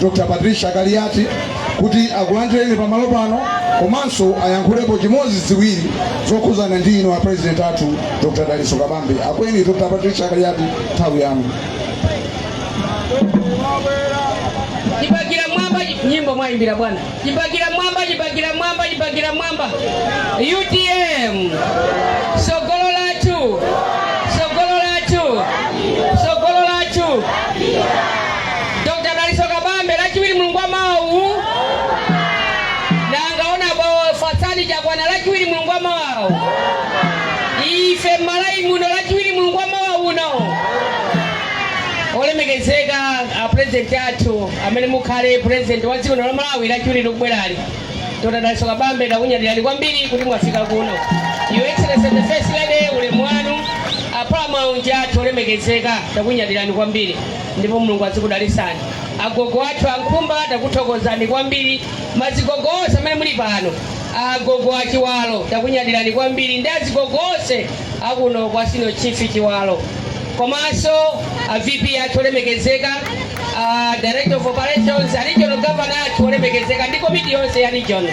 Dr. Patricia Kaliati kuti akulandireni pamalo pano komanso ayankhulepo chimodzi ziwiri zokhuzana ndi inu a president athu Dr. Dalitso Kabambe akweni Dr. Patricia Kaliati nthawi yanu chipakira mwamba nyimbo mwayimbira bwana Chipakira mwamba, chipakira mwamba, chipakira mwamba. UTM. Sogolo lathu. Sogolo lathu. Sogolo lathu. Dr. Dalitso Kabambe lachiwiri mulungu wa mawa. Nanga honourable Fatsani Chakwana lachiwiri mulungu wa mawa. Ife Malawi muno lachiwiri mulungu wa mawa uno. Olemekezeka a president athu. amene mukhale president wa dziko lino la malawi lachiwiri likubwerali Dr. Dalitso Kabambe takunyadirani kwambiri kuti mwafika kuno your excellency the first lady ulemu wanu a paramount chief athu olemekezeka takunyadirani kwambiri ndipo mulungu azikudalisani agogo athu a Nkhumba takuthokozani kwambiri mazigogo onse amene muli pano agogo a Chiwalo takunyadirani kwambiri ndi azigogo onse akuno kwa senior chief Chiwalo komanso a vp athu olemekezeka uh, director of operations a regional governor athu olemekezeka ndi komiti yonse ya region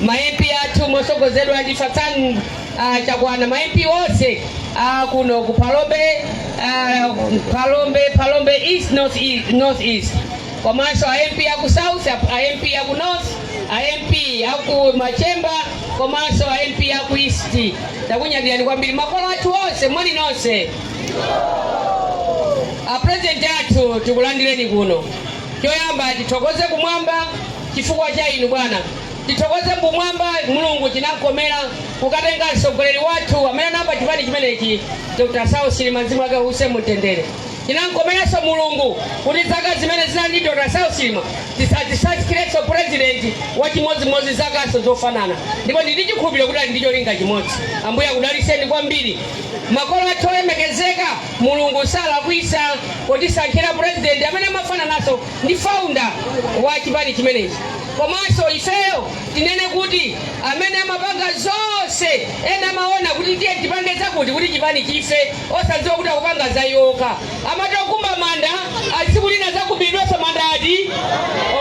ma mp athu mosogozedwa ndi Fatsani uh, Chakwana ma mp onse uh, kuno ku Phalombe uh, Phalombe Phalombe east north east, north east. komanso a mp aku south a a mp aku north a mp aku machemba komanso a mp aku east takunyadirani kwambiri makolo athu onse moni nonse Apulezidenti athu tikulandireni kuno. Choyamba tithokoze kumwamba chifukwa cha inu bwana. Tithokoze kumwamba Mulungu chinamkomera kukatenga mtsogoleri wathu amene anayamba chipani chimenechi Dr. Saulos Chilima mzimu wake uuse mumtendere. Chinamkomeranso Mulungu kuti zaka zimene zinali ndi Dr. Saulos Chilima adzatisankhirenso pulezidenti wachimodzimodzi zakanso zofanana ndipo ndili ndi chikhulupiriro kuti ali ndi cholinga chimodzi. Ambuye akudalitseni kwambiri. Makolo athu olemekezeka, Mulungu salakwisa potisankhira president amene amafananaso ndi founder wa chipani chimenechi. Komaso ifeyo tinene kuti amene amapanga zonse ena amaona kuti tiyeni tipange zakuti kuti chipani chife osadziwa kuti akupanga za iwo okha. Amati okumba manda ali tsiku lina azakumbidwaso manda ati?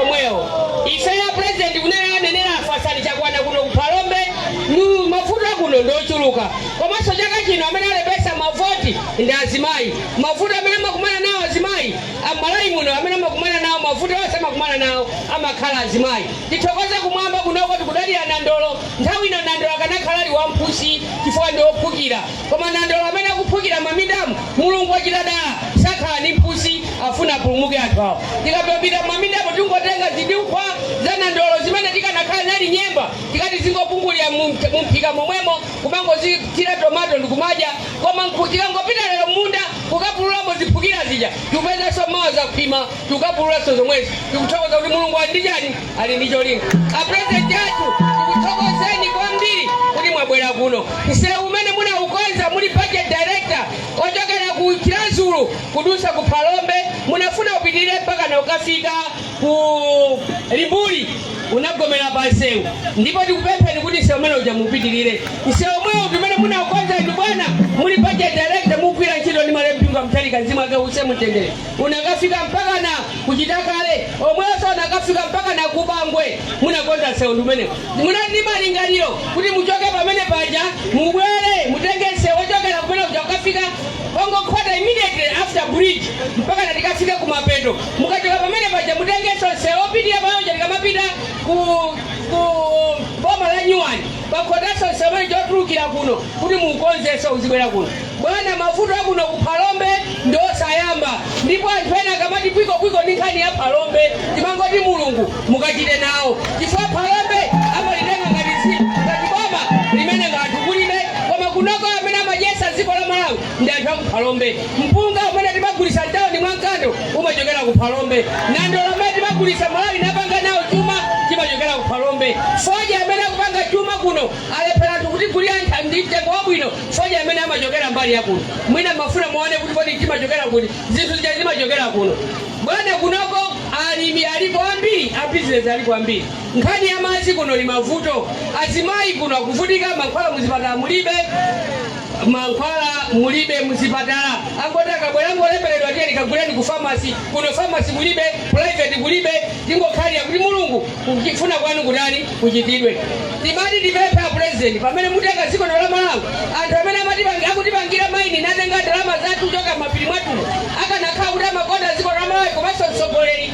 Omwewo. Ifeyo a president kunena anenera a Fatsani Chakwana kuno ku Phalombe, nu mavuto akuno ndi ochuluka. Komanso chaka chino amene alembetsa mavoti ndi azimayi. Mavuto amene amakumana nawo azimayi a m'Malawi muno amene amakumana nawo mavuto onse amakumana nawo amakhala azimayi. Tithokoze kumwamba kunoko tikudalira nandolo nthawi ino nandolo akanakhala ali wamphusi chifukwa ndi ophukira koma nandolo amene akuphukira mamindamu Mulungu wachita dala sakhala ndi mphusi afuna apulumuke anthu awo. Tikapita mamindamu tingotenga zidukhwa za nandolo zimene zikanakhala zili nyemba tikati zingopungulira mu mphika momwemo. kumangozithira tomato ndikumadya koma tikangopita lero m'munda kukapululamo ziphukira zija tikupezanso mawa zakhwima tikukapululanso zomwezi tikuthokoza kuti mulungu ali ndi chani ali ndi cholinga apurezidenti athu tikuthokozeni kwambiri kuti mwabwera kuno msewu umene munaukonza muli budget director ochokera ku Chiradzulu kudutsa ku phalombe munafuna upitirire mpaka na ukafika ku Limbuli unagomera panseu ndipo tikupempheni kuti msewu umene uja mupitirire msewu omwewu ndimene munakonza ndi bwana muli budget director mukugwira ntchito ndi malemu Bingu wa Mutharika mzimu wawo uwuse mumtendere unakafika mpaka na ku Chitakale omwenso unakafika mpaka na ku Bangwe munakonza msewu ndimene munali ndi malingaliro kuti muchoke pamene paja mubwere mutenge msewu ochokera kumene uja ukafika pongokhota immediately after bridge mpaka natikafika kumapeto mukachoka pamene paja mutengenso msewu opitirira pamene paja tikamapita ku ku boma la nyuwani pakhotanso msewu umene ukutulukira kuno kuti muukonzenso uzibwera kuno bwana mavuto akuno ku phalombe ndi osayamba ndipo anthu ena akamati kwikokwiko ndi nkhani ya phalombe timangoti mulungu mukachite nawo chifukwa phalombe amalitenga ngati si ngati boma limene ngati kulibe koma kunoko amene amadyesa dziko la malawi ndi anthu aku phalombe mpunga umene timagulitsa mtauni mwa Nkando umachokera ku phalombe nandolo amene timagulitsa malawi napanga nawo chuma chimachokera ku phalombe soya amene akupanga chuma kuno alephera anthu kuti ndi mtengo wabwino soya amene amachokera mbali yakuno mwina mumafuna muone kuti kodi zimachokera kuti zinthu zija zimachokera kuno bwana kunoko alimi aliko ambiri abizinesi aliko ambiri nkhani ya madzi kuno kuli mavuto azimayi kuno akuvutika mankhwala muzipatala mulibe mankhwala mulibe muzipatala angoti akabwera angoleemberedwa tiyeni kaguleni ku famasi kuno famasi kulibe private kulibe tingokhalira kuti mulungu kufuna kwanu kutani kuchitidwe timati tipemphe a president pamene mutenga dziko lino la malawi anthu amene amatipangi- akutipangira maini natenga ndalama zathu kuchoka m'mapiri mwathumo akanakhala kuti amakonda dziko lino la malawi komanso mtsogoleri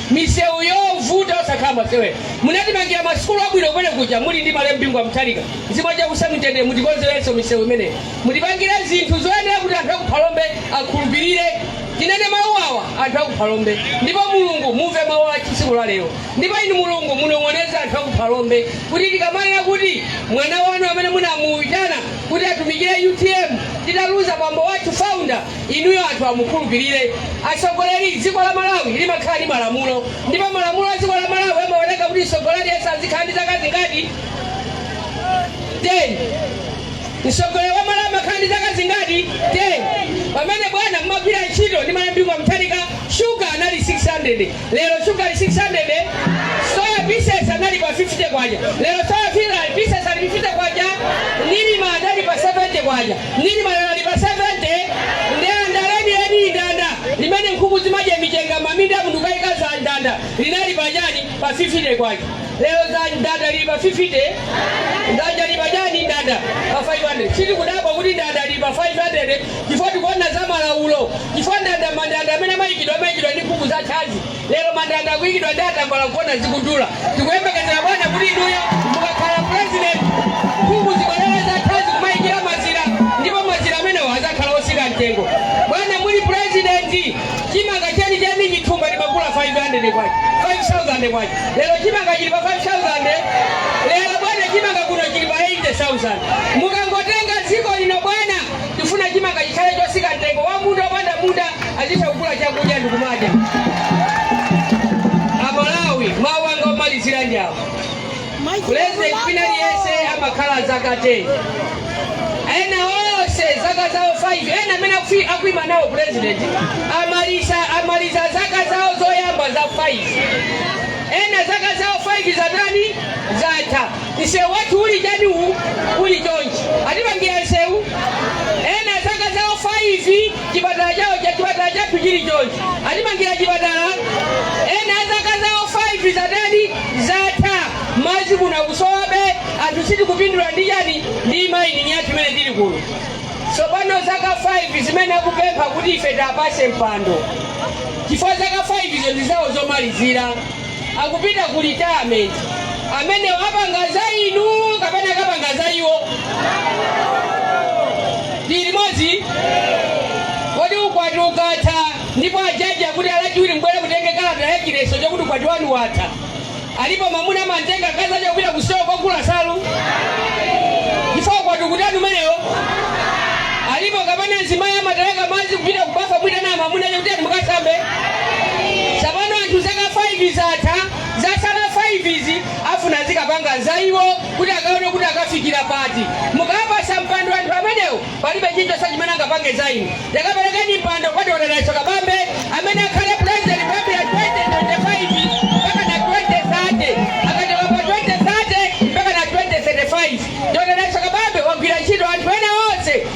misewu yovuta osakhala masewera munatimangira masukulu abwino kumene kuja muli ndi malemu bingu wa mutharika mzimu wawo uuse mumtendere mutikonzerenso misewu imeneyi mutipangire zinthu zoyenera kuti anthu akuphalombe akhulupirire tinene mawu awa anthu akuphalombe ndipo mulungu mumve mawu a tsiku la lero ndipo inu mulungu munong'oneze anthu akuphalombe kuti tikamanena kuti mwana wanu amene munamuyitana kuti atumikire utm titaluza bambo wathu founder inuyo anthu amukhulupirire atsogoleri dziko la malawi limakhala ndi malamulo ndipo malamulo a dziko la malawi amaoneka kuti mtsogoleri yense azikhala ndi zaka zingati 10 mtsogoleri wa malawi amakhala ndi zaka zingati 10 pamene bwana mumagwira ntchito ndi malemu bingu wa mutharika shuga anali 600 lero shuga ali 600 soya pieces anali pa 50 kwacha lero soya pieces ali 50 kwacha nirma anali pa 70 kwacha Nirma anali pa 70 ndanda lenileni ndanda limene nkhuku zimajiya michenga mmaminda munthu ukakaza ndanda linali pa chani pa 50 kwacha lero za ndanda lili pa 50 ndanda lili pa chani ndanda pa 500 sitikudabwa kuti ndanda lili pa 500 chifukwa tikuona za malaulo chifukwa ndanda mandanda amene amaikidwa amaikidwa ndi nkhuku zathadzi Lero mandanda akuikidwa ndi atambala kuona zikudula. Tikuyembekezera bwana kuti inuyo mukakhala president nkhuku zibwerere zathadzi kumaikira mazira ndipo mazira amenewo azakhala osika mtengo. Bwana muli president chimanga chenicheni chithumba timagula 500 kwacha 5000 kwacha lero chimanga chili pa 5000 lero bwana chimanga kuno chili pa 80000 mukangotenga dziko lino bwana Tifuna chimanga chikhale chosika mtengo wa munda wopanda munda azitha kugula chakudya ndikumadya. Amalawi mawu anga omalizira ndi awo. President wina aliyense amakhala zaka 10. Ena onse zaka zawo 5 ena amene akufi- akuima nawo president amaliza amaliza zaka zawo zoyamba za 5 ena zaka zawo 5 zatani zatha Msewu wathu uli chani uwu uli chonchi atimangira msewu ena zaka zawo 5 chipatala chawo cha chipatala chathu chili chonchi atimangira chipatala ena zaka zawo 5 zatani zatha madzi kuno akusowabe anthu sitikupindula ndi chani ndi mayining yathu imene ili kuno tsopano zaka 5 zimene akupempha kuti ife tiwapase mpando chifukwa zaka 5 izo ndi zawo zomalizira akupita ku retirement amenewo apanga za inu kapena akapanga za iwo tili limodzi kodi ukwati ukatha ndipo ajaji akuti lachiwiri mubwere mutenge kalata ya chiletso chakuti ukwati wanu watha alipo mamuna amamtenga mkazi uja kupita kusitolo kukagula nsalu chifukwa ukwati ukutani umenewo alipo kapena mzimayi amateleka madzi kupita kubafa nkuitana mamuna uja kuti ati mukasambe tsapano anthu zaka 5 zatha zatsala 5 izi afuna azikapanga za iwo kuti akaona kuti akafikira pati mukawapatsa mpando anthu amenewo palibe chilichonse chimene angapange za inu takaperekeni mpando kwa dr dalitso kabambe amene akhale president kuyambira 2025 mpaka na 2030 akachoka pa 2030 mpaka na 2035 dr dalitso kabambe agwira ntchito anthu ena onse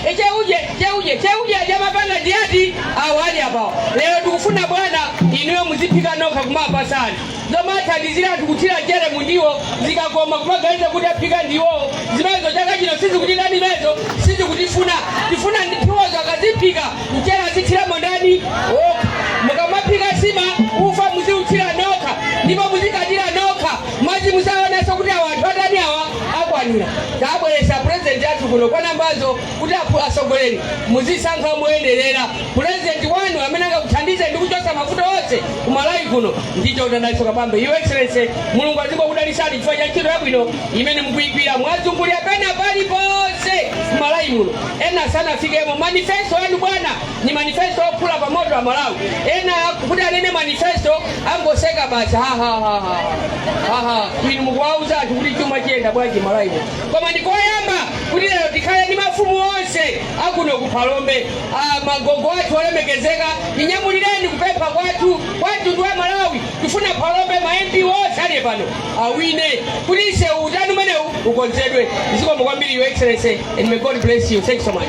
Cheuje cheuje cheuje aja mapanga ndi ati awa ali apawa lero tikufuna bwana inuyo muziphika nokha kumapatsa anthu zomathandizira kuthira mchere mundiwo zikakoma kumaganiza kuti aphika ndiwowo zimenezo za chaka chino sizitheka zimenezo sitikuzifuna tifuna ndiwozo akaziphika mchere azithiramo ndani okha mukamaphika nsima ufa muziuthira nokha ndipo muzikatira nokha mwati musaoneso kuti awa anthu atani awa akwanira tabweresa purezidenti athu kuno kwa nambazo kuti akhu- atsogoleri muzisankha moyenerera purezidenti wanu amene angakuthandize ndi kuchotsa mavuto onse ku malawi kuno ndi dokotala dalitso kabambe your excellency mulungu azikudalitsani chifukwa cha ntchito yabwino imene mukuyigwira mwazungulira pena paliponse ku malawi muno ena sanafikemo manifesto yanu bwana ni manifesto ophula pa moto amalawi ena kuti anene manifesto angoseka basi hahahaha inu mukuwauza anthu kuti chuma chiyenda bwanji malawi muno. koma ndikoyamba kuti lero tikhale ndi mafumu onse akuno ku phalombe Ah, magogo athu olemekezeka tinyamulireni kupempha kwathu kwa mtundu wa malawi tifuna phalombe ma mp onse ali pano awine kuti ise utm umenewu ukonzedwe zikomo kwambiri your excellency and may god bless you thank you so much